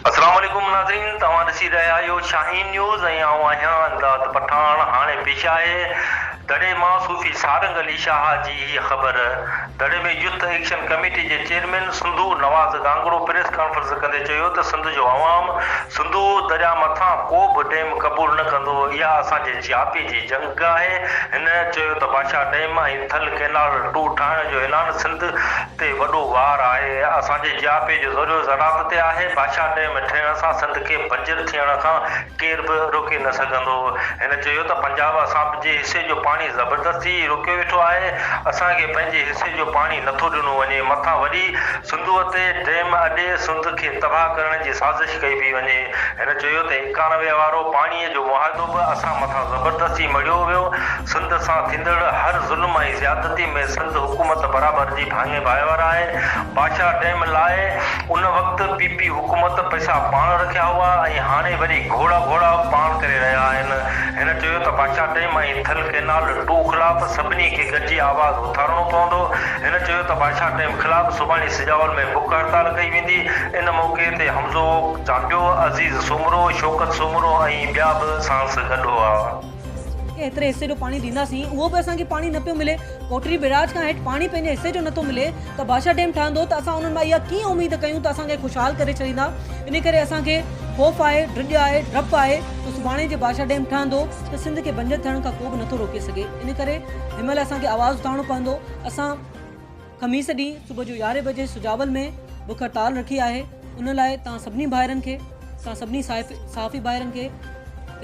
اسلام عليڪم ناظرين توهان ڏسي رهيا آهيو شاهين نيوز ۽ آئون آهيان امداد پٺاڻ هاڻي پيش آهي دڙي مان صوفي سارنگ علي شاهه جي هيء خبر. دڙي ۾ يوٿ ايڪشن ڪميٽي جي chairman Sindhu Nawaz Gangro press conference ڪندي چيو ته سنڌ جو عوام سنڌو درياء مٿان ڪو به ڊيم قبول نه ڪندو، اها اسان جي جياپي جي جنگ آهي، هن چيو ته Bhasha dam ۽ Thal canal two ٺاهڻ جو اعلان سنڌ تي وڏو وار آهي، اسان جي جياپي جو ذريعو زراعت تي آهي، باشا ڊيم ٺهڻ سان سنڌ کي بنجر ٿيڻ کان. ڪير به روڪي نه سگهندو. هن چيو ته پنجاب اسان جي حصي جو پاڻي زبردستي روڪيو ويٺو آهي، اسان کي پنهنجي حصي جو پاڻي نٿو ڏنو وڃي، مٿان وري سنڌوء تي ڊيم اڏي سنڌ کي تباهه ڪرڻ جي سازش ڪئي پئي وڃي. هن چيو ته ايڪانوي وارو پاڻي جو معاهدو به اسان مٿان زبردستي مڙهيو ويو، سنڌ سان ٿيندڙ هر ظلم ۽ زيادتي ۾ سنڌ حڪومت برابر جي ڀاڱي ڀائيوار آهي، باشا ڊيم لاء ان وقت پي پي حڪومت پئسا پاڻ رکيا هئا ۽ هاڻي وري گهوڙا گهوڙا پاڻ ڪري رهيا آهن. هن چيو ته بادشاهه ٽيم ۽ ٿل ڪئنال ٽو خلاف سڀني کي گڏجي آواز اٿارڻو پوندو. هن چيو ته بادشاهه ٽيم خلاف سڀاڻي سجاول ۾ بک هڙتال ڪئي ويندي. ان موقعي تي حمزو چانڊيو، عزيز سومرو، شوڪت سومرو ۽ ٻيا به ساڻس گڏ هئا. ايتري حصي جو پاڻي ڏينداسين اهو به اسان کي پاڻي نه پيو ملي ڪوٽڙي بئراج کان هيٺ پاڻي پنهنجي حصي جو نٿو ملي ته بادشاهه ڊيم ٺهندو ته اسان انهن مان اها ڪيئن اميد ڪيون ته اسان کي خوشحال ڪري ڇڏيندا ان ڪري اسان کي خوف آهي ڊڄ آهي ڊپ آهي ته سڀاڻي جي بادشاهه ڊيم ٺهندو ته سنڌ کي بنجر ٿيڻ کان ڪو به نٿو روڪي سگهي ان ڪري هن مهل اسان کي آواز اٿارڻو پوندو اسان خميس ڏينهن صبح جو يارهين بجي سجاول ۾ بک هڙتال رکي آهي ان لاء توهان سڀني ڀائرن کي اسان سڀني صحافي ڀائرن کي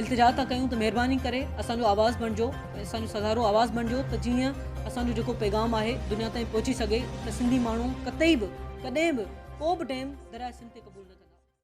التجا ٿا ڪيون ته مهرباني ڪري اسان جو آواز بڻجو اسان جو سگهارو آواز بڻجو ته جيئن اسان جو جيڪو پيغام آهي دنيا تائين پهچي سگهي ته سنڌي ماڻهو قطعي به ڪڏهن به ڪو به ٽيم درياء سنڌ تي قبول نه ڪندا